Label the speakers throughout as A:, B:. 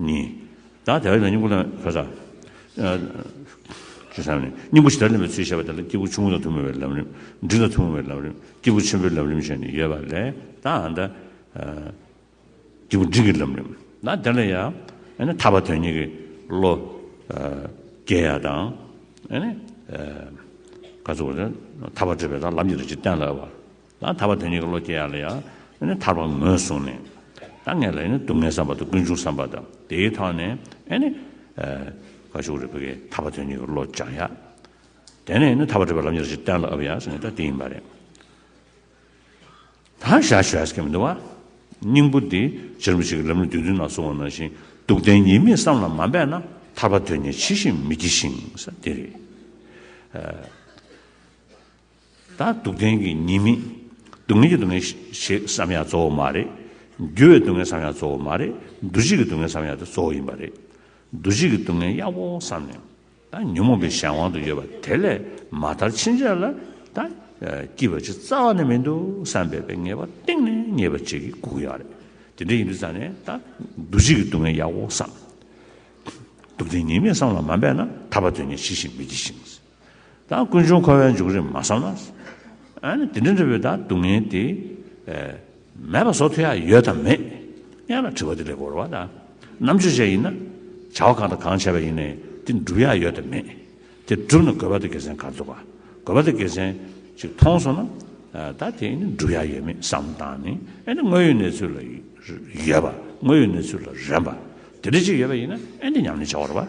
A: ནི། བདག་དེ་བས་ན་སྙིང་པོ་དང། ཁ་སང། ཅེས་བྱ་བ་ནི། སྙིང་པོ་ཇི་ལྟར་ལེན་པའི་ཚུལ་བཤད་པ་དེ་ལ་སྐྱེས་བུ་ཆུང་ངུ་དང་ཐུན་མོང་བའི་ལམ་རིམ། འབྲིང་དང་ཐུན་མོང་བའི་ལམ་རིམ། སྐྱེས་བུ་ཆེན་པོའི་ལམ་རིམ་བཤད་ནས་ཡོད་པ་ལས། དང། སྐྱེས་བུ་འབྲིང་གི་ལམ་རིམ། ན་དེ་ལ་ཡང། ཐར་པ་དོན་གཉིས་ཀྱི་བློ། རྒྱས་ཡ་དང། ཐར་པ་བྲལ་བའི་དང་ལམ་གྱི་རིགས་ཀྱི་བསྟན་ལ་བ། ལ་ཐར་པ་དེ་གཉིས་ཀྱི་བློ་སྐྱེ་ཡ་ལ་ཡང་ཐར་པ་ངོས་བཟུང་ནས་ད་ངས་ལ་སྡུག་བསྔལ་བསམ་པ་དང་ཀུན་འབྱུང་བསམ་པ་དང་དེའི་ཐོག་ནས་ཀ་ཤུག་རིག་པ་ཀྱི་ཐར་པ་དེ་གཉིས་ཀྱི་བློ་སྦྱང་ཡ། དེ་ནས་ཐར་པ་བྲལ་བའི་ལམ་ཉེར་གཅིག་གཏན་ལ་དབབ་ཡ་ཟེར་ནས་ད་དེ་ཡིན་པ་རེད། ད་ཞར་ཞུ་ཡས་ཀྱི་མི་འདུག་བ། སྙིང་པོ་འདི་ཕྱིར་མི་ཤིག་གི་ལམ་ནི་དུས་འདི་ན་སོང་བ་ནང་བཞིན་སྡུག་བདེན་གཉིས་མེད་བསམ་ལ་མ་འབད་ན་ཐར་པ་དོན་གཉིས་ཇི་བཞིན་མི་སྐྱེ་ཞིང་ས་དེ་རེད། ད་སྡུག་བདེན་གྱི་གཉིས་མེད། སྡུག་བསྔལ་གྱི་སྡུག་བསྔལ་ཞེས་བསམ་ཡང་གཙོ་བོ་མ་རེད། འགྱུར་བའི་སྡུག་བསྔལ་བསམ་ཡང་གཙོ་བོ་མ་རེད། འདུ་བྱེད་ཀྱི་སྡུག་བསྔལ་བསམ་ཡང་དེ་གཙོ་བོ་ཡིན་པ་རེད། འདུ་བྱེད་ཀྱི་སྡུག་བསྔལ་ཡག་པོ་བསམ་ནས་ད་ཉོན་མོངས་པའི་གཞན་དབང་དུ་ཡོད་པ་དེ་ལས་མ་ཐར་ཕྱིན་ཆད་ལ་ད་སྐྱིད་པ་ཅིག་རྩ་བ་ནས་མི་འདུག་བསམ་པའི་པའི་ངེས་པ་གཏིང་ནས་རྙེད་པ་ཅིག་གིས་སྒུག་ཡོད་རེད། དེ་འདྲ་ཡིན་དུས་ཙམ་ནས་ད་འདུ་བྱེད་ཀྱི་སྡུག་བསྔལ་ཡག་པོ་བསམ། སྡུག་བདེན་གཉིས་མེད་བསམ་ལ་མ་འབད་ན་ཐར་པ་དོན་གཉེར་ཇི་བཞིན་མི་བགྱིད་ཅིང། ད་ཀུན་འབྱུང་འཁོར་བའི་འཇུག་རིམ་མ་སོང་ན། དེ་འདྲ་འདྲ་བོའི་ད་སྡུག་བསྔལ་དེ། མེད་པ་སོགས་ཐོས་ཡ་ཡོད་དམ་མེད། ཡང་ན་དྲི་བ་འདི་ལས་གོ་རུ་བ་ད། རྣམ་དཔྱོད་ཅན་ཡིན་ན། བྱ་བ་གང་དང་གང་བྱས་པ་ཡིན་ནའི་དེ་འགྲུབ་ཡ་ཡོད་དམ་མེད། དེ་འགྲུབ་ན་དགོས་པ་དེ་དགེ་མཚན་ག་ཚོད་པ། དགོས་པ་དེ་དགེ་མཚན་ཅིག་མཐོང་སོང་ན། ད་དེ་ནི་འགྲུབ་ཡ་ཡོད་མེད་བསམ་བློ་བཏང་ནས་ཨེ་ནི་དངོས་ཡོད་གནས་ཚུལ་ལ་ཡོད་པ་དངོས་ཡོད་གནས་ཚུལ་ལ་རན་པ། དེ་འདྲ་ཅིག་ཡོད་པ་ཡིན་ན་ཨེ་འདྲ་སྙམ་ནས་བྱ་བ་རུ་བ།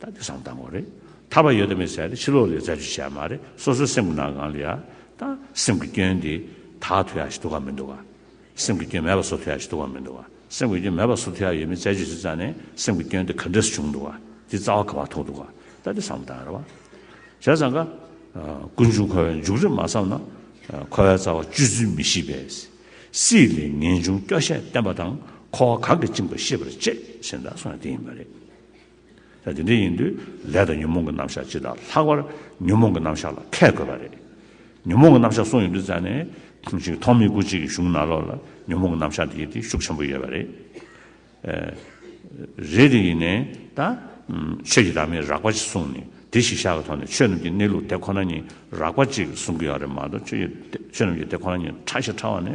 A: ད་ལྟ་བཟང་བཏང་བ་རེད། ཐར་བ་ཡོད་དམ་མེད་ཟེར་ཡ་དེ་ཕྱི་ལོག་ལས་རྫ་ཆུ་ཞལ་མ་རེད་སོ་སོའི་སེམས་ཀྱི་ནང་གང་ལ་ཡ་ད་སེམས་ཀྱི་སྐྱོན་དེ་དག་ཐུ་ཡ་ཞིག་འདུག་གམ་མི་འདུག་ག། སེམས་ཀྱི་སྐྱོན་མེད་པ་བཟོ་ཐུ་ཡ་ཞིག་འདུག་གམ་མི་འདུག་ག་སེམས་ཀྱི་སྐྱོན་མེད་པ་བཟོ་ཐུ་ཡ་ཡོད་མེད་རྩད་གཅོད་བྱེད་རྩ་ནས་སེམས་ཀྱི་སྐྱོན་དེ་ག་འདྲ་སུ་བྱུང་འདུག་ག་དེ་རྩ་བ་ག་བ་ཐོག་འདུག་ག་ད་ལྟ་བཟང་བཏང་རེད་བ། བྱས་ཙང་ག། ཀུན་འབྱུང་འཁོར་བའི་མཇུག་རེད་མ་བསམ་ན། འཁོར་བའི་རྩ་བ་བཅུ་བཙུན་མི་ཤེས་པས། སྲིད་ལས་ངེས་འབྱུང་སྐྱོ་ཤས་བསྟན་པ་དང་འཁོར་བ་གང་གིས་བཅིངས་པ་ཤེས་པར་བྱེད་ཟེར་ན་སོང་ཡ་དེ་ཡིན་པ་རེད། ད་དེ་འདྲ་ཡིན་དུས་ལས་དང་ཉོན་མོངས་ཀྱི་རྣམ་གཞག་སྤྱི་དང་ལྷག་པར་ཉོན་མོངས་ཀྱི་རྣམ་གཞག་ལ་མཁས་དགོས་པ་རེད། ཉོན་མོངས་ཀྱི་རྣམ་གཞག་གསུངས་ཡོད་དུས་ཙང་ནས་ཅིག་ཐོག་མེད་དགུ་གཅིག་གི་གཞུང་ནང་ལོགས་ལ་ཉོན་མོངས་ཀྱི་རྣམ་གཞག་འདི་དེ་ཤུགས་ཆེན་པོ་ཡོད་པ་རེད། རེད་དེ་ཡིན་ནས་ད། ཆོས་ཀྱི་བདག་མེད་རགས་པ་ཅིག་གསུངས་ནས་དེ་གཞི་བཞག་གི་ཐོག་ནས་ཆོས་རྣམས་ཀྱི་གནས་ལུགས་དེ་ཁོ་ན་ཉིད་རགས་པ་ཅིག་གསུངས་ཀྱི་ཡོད་རེད་མ་གཏོགས་ཆོས་ཀྱི་དེ་ཁོ་ན་ཉིད་ཕྲ་ཞིག་ཕྲ་བ་ནི་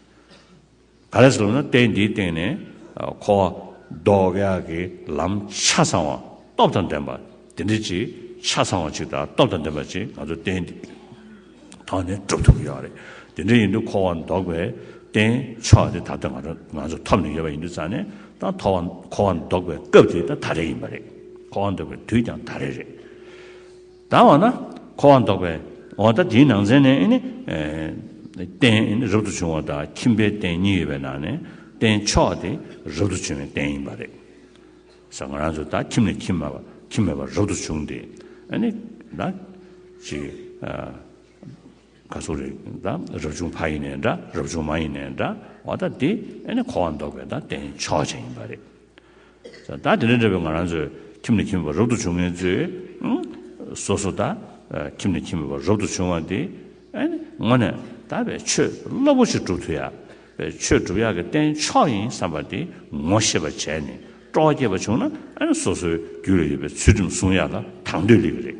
A: ག་རེ་ཟུར་ན་རྟེན་འདིའི་སྟེང་ནས་འཁོར་བ་ཟློག་ཡ་གི་ལམ་ཆ་ཚང་བ་སྟོབས་དང་ལྡན་པ་དེ་འདྲ་ཅིག་ཆ་ཚང་བ་ཅིག་དང་སྟོབས་དང་ལྡན་པ་ཅིག་ང་ཚོ་རྟེན་འདིའི་ཐོག་ནས་གྲུབ་ཐུབ་ཀྱི་ཡོད་རེད། དེ་འདྲ་ཡིན་དུས་འཁོར་བ་ཟློག་པའི་རྟེན་མཆོག་དེ་ད་ལྟ་ང་ཚོ་ཐོབ་ནས་ཡོད་པ་ཡིན་དུས་རྩ་ནས་ད་འཁོར་བ་ཟློག་པའི་སྐབས་དེ་ད་ད་རེ་ཡིན་པ་རེད། འཁོར་བ་ཟློག་པའི་དུས་ཀྱང་ད་རེ་རེད། དང་བ་ན་འཁོར་བ་འདོགས་པའི་འོག་ད་དེའི་ནང་ཚན་ནས་ནི། རྟེན་རབ་ཏུ་བྱུང་བ་དང་ཁྱིམ་པའི་རྟེན་གཉིས་ཡོད་པའི་ནང་ནས་རྟེན་མཆོག་དེ་རབ་ཏུ་བྱུང་བའི་རྟེན་ཡིན་པ་རེད། ས་ང་རང་ཚོ་ད་ཁྱིམ་ནས་ཁྱིམ་མ་ཁྱིམ་མེད་པར་རབ་ཏུ་བྱུང་སྟེ་ནི། ད་ཅི། ག་སོགས་རེད་ད་རབ་བྱུང་ཕ་ཡིན་ནས་འདྲ་རབ་བྱུང་མ་ཡིན་ནས་འདྲ་བ་ད་དེ་ནི་འཁོར་བ་འདོགས་པའི་ད་རྟེན་མཆོག་ཅན་ཡིན་པ་རེད། ད་དེ་ལས་འདས་པའི་ང་རང་ཚོས་ཁྱིམ་ནས་ཁྱིམ་པའི་བར་རབ་ཏུ་བྱུང་ངེས་ཚོས། སོ་སོ་ད་ཁྱིམ་ནས་ཁྱིམ་པའི་བར་རབ་ཏུ་བྱུང་བ་འདི། ངོ་ནས་ད་བས་ཆོས་སློབ་བོ་ཆེ་སྒྲུབ་ཐུ་ཡག། བས་ཆོས་སྒྲུབ་ཡག་གི་རྟེན་མཆོག་ཡིན་བསམ་པ་འདི་ངོ་ཤེས་པ་བྱས་ནས་སྤྲོ་བ་སྐྱེས་པ་བྱུང་ན་སོ་སོའི་རྒྱུད་ལ་ཡོད་པའི་ཚུལ་ཁྲིམས་བསྲུང་ཡག་ལ་དང་དོད་ལེགས་གི་རེད།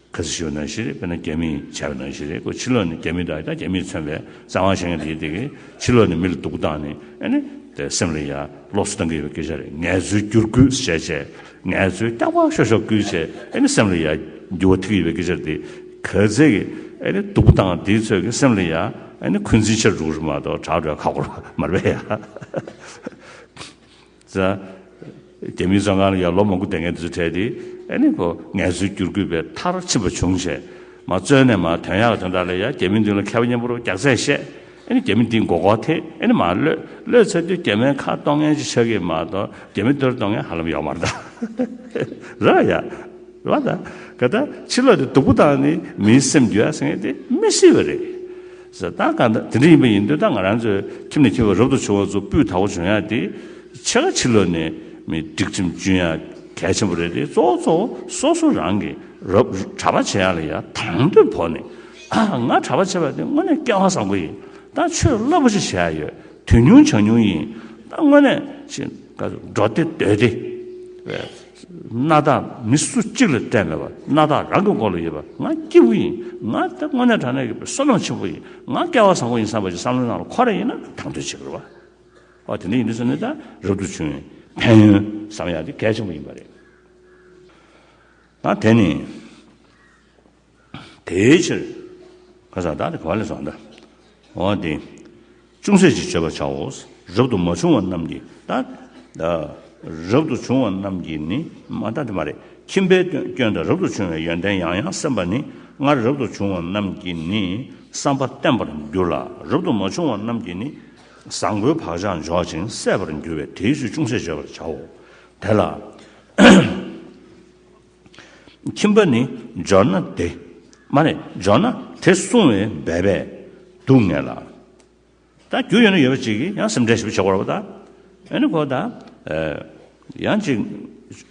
A: ཁ་སི་ཞོའི་ནང་བཞིན་རེད་དཔེར་ན་རྒྱ་མིས་བྱས་པའི་ནང་བཞིན་རེད་ཁོས་ཕྱི་ལོགས་ནས་རྒྱ་མི་དང་ཡང་རྒྱ་མིས་མཚོན་པའི་བཙན་དབང་བཞེས་མཁན་དེའི་སྟེང་གི་ཕྱི་ལོགས་ནས་མི་ལ་སྡུག་སྟངས་ནི་ཨ་ནི་སེམས་ལ་ཡ་ལོག་སུ་བཏང་གི་ཡོད་པའི་སྐད་ཆ་རེད་ངལ་རྩོལ་བསྒྱུར་བཀོད་བྱས་བྱས་ངལ་རྩོལ་རྐྱང་པ་ཤོར་ཤོར་བསྐུལ་བྱས་ཨ་ནི་སེམས་ལ་ཡ་འགྱུར་བ་ཐུག་གི་ཡོད་པའི་སྐད་ཆ་རེད་འདི་ག་ཚད་ཀྱི་ཨ་ནི་སྡུག་སྟངས་འདི་ཚོད་ཀྱི་སེམས་ལ་ཡ་ཨ་ནི་འཁོན་འཛིན་ཆེར་འགྲོ་གི་རེད་མ་གཏོགས་དྲག་གྲོས་ཁ་སྐོར་མ་རེད། ཟེར། རྒྱ་མིའི་བཙོན་ཁང་ལ་ཡང་ལོ་མང་པོ་བསྡད་མཁན་དེ་ཚོ་འཕྲད་དེ། ཨེ་ནི་གོ་ངལ་རྩོལ་བསྒྱུར་དགོས་པའི་མཐར་ཕྱིན་པ་བྱུང། བྱས་མ་བཙོན་ནས་མ་དོན་ཡག་དོན་དག་ལས་ཡང་རྒྱ་མི་མདུན་ལ་མཁས་པ་སྙན་པོར་བརྒྱག་རྩད་བཤད། ཨེ་ནི་རྒྱ་མི་འདིས་མགོ་སྐོར་ཐེ་ཨེ་ནི་མ་གློད། གློད་ཚར་དུས་རྒྱ་མའི་ཁ་གཏོང་མཁན་གྱི་ཆ་ཁས་མ་གཏོགས་རྒྱ་མི་གཏོར་གཏོང་མཁན་ཧ་ལམ་ཡོག་མ་རེད། རེད་བ་ཡ། རེད་བ་ད། ག་ད་ཕྱི་ལོགས་དེ་སྡུག་པོ་དང་ནི་མིའི་སེམས་འགྱོད་ཡ་སེ་ངེས་དེ་མི་སྲིད་བ་རེད། ཟེར། ད་ག་ད་དེ་འདྲ་ཡིན་པ་ཡིན་དུས་ད་ང་རང་ཚོའི་ཁྱིམ་ནས་ཁྱེར་བའི་རབ་ཏུ་བྱུང་བ་ཚོ་སྤུས་དག་པོ་འབྱུང་ཡག་དེ། ཕྱེད་ཀ་ཕྱི་ལོག་ནས་མི་སྒྲིག་ཁྲིམས་གཅུན་ཡག་གལ་ཆེན་པོ་རེད་དེ་གཙོ་བོ་གཙོ་བོ་སོ་སོ་རང་གིས་རབ་གྲྭ་པ་བྱེད་ཡག་ལ་ཡག་དང་དོད་བོར་ནས། ང་གྲྭ་པ་བྱེད་པ་དེ་དངོས་གནས་སྐལ་བ་བཟང་པོ་ཡིན་ད་ཆོས་བློ་པོ་ཆེ་བྱེད་ཡག་ཡོད་དུས་ཉུང་བྱང་ཉུང་ཡིན་ད་དངོས་གནས་ཤིན་ཏུ་འགྲོ་སྡེ་སྡོད་སྡེ་བས། སྣ་དག་མི་སུ་གཅིག་ལ་སྤྲད་མེད་པར་སྣ་དག་རང་གི་མགོ་ལ་ཡོད་པ་ང་སྐྱིད་པོ་ཡིན་ང་དེ་དངོས་གནས་དྲང་གནས་ཀྱི་བསོད་ནམས་ཆེན་པོ་ཡིན་ང་སྐལ་བ་བཟང་པོ་ཡིན་བསམ་པ་ཞིག་བསམ་བློའི་ནང་ལ་འཁོར་ར་ཡིན་ན་དང་དོད་བྱེད་དགོས། ཨོ་དེ་འདྲ་ཡིན་དུས་སུ་ནི་ད་རབ་ཏུ་བྱུང་བའི་ཕན་ཡོན་བསམ་ཡག་དེ་གལ་ཆེན་པོ་ཡིན་པ་རེད། ད་དེ་ནི། དེའི་ཕྱིར། ཁ་ཟག་བདག་དེ་ག་ལས་བཟང་ལྟ། འོ་དེ། ཅུང་ཟད་ཅིག་བྱེད་པར་བྱའོ། རབ་ཏུ་མ་བྱུང་བ་རྣམས་ཀྱིས་ལྟ། རབ་ཏུ་བྱུང་བ་རྣམས་ཀྱིས་ནི་མ་ལྟ་སྟེ་མ་རེད། ཁྱིམ་པའི་སྐྱོན་དང་རབ་ཏུ་བྱུང་བའི་ཡོན་ཏན་ཡང་ཡང་སེམས་པ་ནི་སྔར་རབ་ཏུ་བྱུང་བ་རྣམས་ཀྱིས་ནི་བསམ་པ་བརྟན་པར་འགྱུར་ལ་རབ་ཏུ་མ་བྱུང་བ་རྣམས་ཀྱིས་ནི་བཟང་པོའི་བག་ཆགས་འཇོག་ཅིང་གསད་པར་འགྱུར་བས་དེའི་ཚུལ་ཅུང་ཟད་བརྗོད་པར་བྱའོ། དེ་ལ། ཁྱིམ་པ་ནི་འབྱོར་ན་དེ། མ་རེད་འབྱོར་ན་དེ་སྲུང་བའི་འབད་པས་སྡུག་བསྔལ་ལ། ད་རྒྱུ་ཡོད་ན་ཡོད་པ་ཅིག་གིས་ཡང་སེམས་ཁྲལ་ཞིབ་བྱེད་དགོས་རོགས་གདའ། ཨ་ནི་ཁོ་ད། ཡང་ཅིག་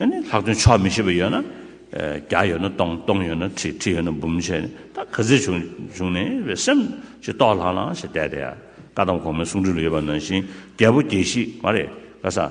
A: ཨ་ནི་ལྷག་དོན་ཆོག་མི་ཤེས་པ་ཡོད་ན། བརྒྱ་ཡོད་ན་སྟོང་སྟོང་ཡོད་ན་ཁྲི་ཁྲི་ཡོད་ན་འབུམ་བྱས་ནས་ད་ག་ཚོད་བྱུང་བྱུང་ནས་བའི་སེམས་ཞིག་རྟོགས་ལྷང་ལྷང་ཞིག་བསྡད་དེ། བཀའ་གདམས་གོང་མའི་གསུང་སྒྲོས་ལ་ཡོད་པ་ནང་བཞིན་རྒྱལ་པོ་རྒྱལ་བཞི་མ་རེད་ག་ས།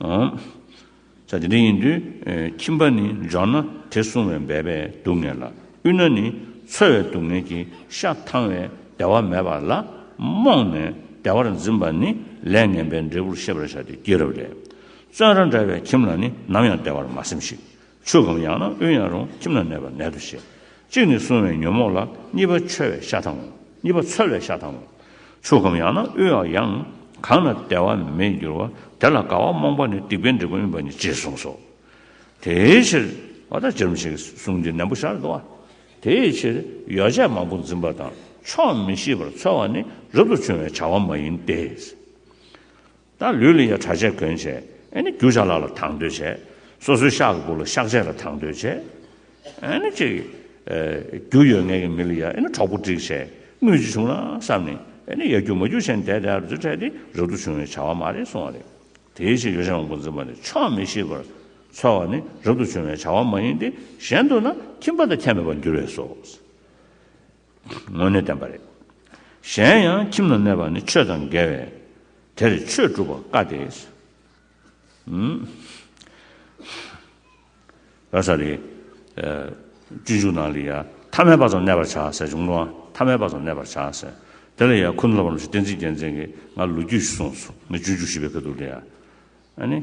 A: བྱ། དེ་འདྲ་ཡིན་དུས་ཁྱིམ་པ་ནི་འཇོག་ན་དེ་བསྲུང་བའི་འབད་པས་སྡུག་བསྔལ་ལ་དབུལ་ན་ནི་འཚོལ་བའི་སྡུག་བསྔལ་གྱི་ཤ་ཐང་བས་བདེ་བ་མེད་པ་ལ་རྨོངས་ནས་བདེ་བར་འཛིན་པ་ནི་ལས་ངན་པའི་འབྲས་བུར་ཤེས་པར་བྱ་སྟེ་སྐྱེས་རབས་ལས། བཙོན་ར་འདྲ་བའི་ཁྱིམ་ལ་ནི་ནམ་ཡང་བདེ་བར་མ་སེམས་ཤིག། ཆོས་གོམས་ཡང་ན་དབུལ་ཡང་རུང་ཁྱིམ་ན་གནས་པར་ནད་དུ་བཤད། གཅིག་ནི་བསྲུང་བའི་ཉོན་མོངས་ལ་གཉིས་པ་འཆོལ་བའི་ཤ་དང། གཉིས་པ་ཚོལ་བའི་ཤ་དང། ཆོས་གོམས་ཡང་ན་དབུལ་བ་ཡང། གང་ན་བདེ་བ་མེད་འགྱུར་བ་དེ་ལ་དགའ་བ་རྨོངས་པ་ནི་སྡིག་པའི་འབྲས་བུ་ཡིན་པ་ཉིད་ཅེས་གསུངས་སོ། དེའི་ཕྱིར། བ་དག་སྦྱར་མི་བྱེད་ཀྱི་གཟུངས་འདི་ནན་པོ་ཤར་དུ་བ། དེའི་ཕྱིར་ཡོ་བྱད་མང་པོ་འཛིན་པ་དང་ཆོག་མི་ཤེས་པར་ཚོལ་བ་ནི་རབ་ཏུ་བྱུང་བའི་བྱ་བ་མ་ཡིན་ཏེ། ད་ལུས་ལ་ཡང་དྲ་ཆས་གོན་བྱས། ཨེ་ནི་རྒྱུ་ཆ་ལག་ལ་དང་དོད་བྱས། སོ་སོའི་ཤག་གི་སྦུག་ལ་ཤག་ཆས་ལ་དང་དོད་བྱས། ཨེ་ནི་ཅིག། རྒྱུ་ཡོད་ངེས་ཀྱི་མི་ལ་ཡང་ཨེ་ནི་གྲོགས་པོ་སྒྲིག་བྱས། དངུལ་གཅིག་བྱུང་ན་བསམ་ནས། ཨེ་ནི་ཡ་རྒྱུ་མ་རྒྱུ་བྱས་ནས་དེ་དེའར་འཛུལ་འཕྲད་དེ་རབ་ཏུ་བྱུང་བའི་བྱ་བ་མ་རེད་གསུང་བ་རེད། དེའི་ཕྱིར་ཡོ་བྱད་དབང་པོ་འཛིན་པ་ནི་ཆོག་མི་ཤེས་པར་འཚོལ་བ་ནི་རབ་ཏུ་བྱུང་བའི་བྱ་བ་མ་ཡིན་ཏེ་གཞན་དུ་ན་ཁྱིམ་པ་དང་ཁྱད་མེད་པར་འགྱུར་བས་སོ། དངོས་གནས་བདེན་པ་རེད། གཞན་ཡང་ཁྱིམ་ལ་གནས་པ་ནི་ཆོས་དང་འགལ་བས། དེར་ཆོས་སྒྲུབ་པ་དཀའ་སྟེ། བ་ས་རེ། སྤྱོད་འཇུག་ནང་ལ་ཡང་ཐ་མལ་པ་ཙམ་གནས་པར་བྱ་ཟེར་བྱུང་ནའང་ཐ་མལ་པ་ཙམ་གནས་པར་བྱ་ཟེར། དེ་ལ་ཡང་ཁུ་ནུ་ལ་བ་རྣམས་ཀྱིས་བསྟན་འཛིན་རྒྱལ་མཚན་གྱིས་སྔར་ལོ་རྒྱུས་སུ་གསུངས་སོ། ངས་སྤྱོད་འཇུག་ཞི་བའི་ཁ་དུག་ལ་ཡང།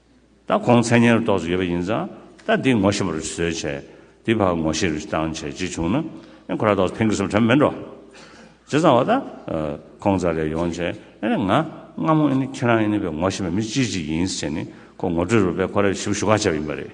A: ད་གོང་མཚན་ཉེར་བསྡོགས་སུ་ཡོད་པ་ཡིན་ཙང་ད་འདི་ངོ་ཤེས་པར་བཟོས་བྱས་འདི་བར་ངོ་ཤེས་རུ་བཏང་བྱས་ཅིག་བྱུང་ན་ཨེ་ཁོ་ར་བསྡོགས་སུ་ཕན་གི་སུ་དྲན་མི་འགྲོ། ཇི་ཙང་བ་ད་ཁོང་ཙ་ལས་ཡོང་བྱས་ཨེ་ང་སྔ་མོ་ཨེ་ཁྱེད་རང་ཨེ་བའི་ངོ་ཤེས་པའི་མི་ཅི་ཅིག་ཡིན་ཟེར་ནས་ཁོ་ངོ་སྤྲོད་རུ་བས་ཁོ་ར་ཞིབ་ཞུ་ག་བྱས་པ་ཡིན་པ་རེད།